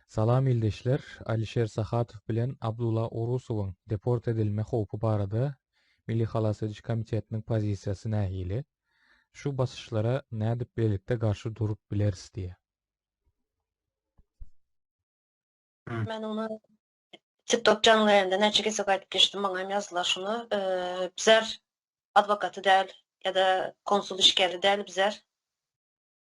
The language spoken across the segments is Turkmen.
Salam ildeşler, Alişer Sahatow bilen Abdula Orusowyň deport edilme howpy barada Milli halas ediş komitetiniň pozisiýasy nähili? Şu basyşlara nädip birlikde garşy durup bileris diýýär. Men ony TikTok jaňly ýerinde näçe gezek aýdyp geçdim, maňa hem ýazdylar şuny, bzer adwokaty däl ýa-da konsul işgäri däl bzer.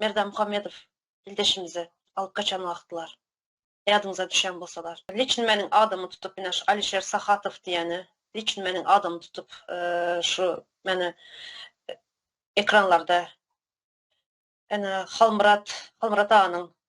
Merdanmuhammedow ildeşimizi alyp gaçan wagtlar, ýadyňyza düşen bolsalar. Liçn meniň adamy tutup ine şu Alişer Sahatow diýeni liçn meniň adamy tutup şu meni ekranlarda ene Halmyrat Halmyrat aganyň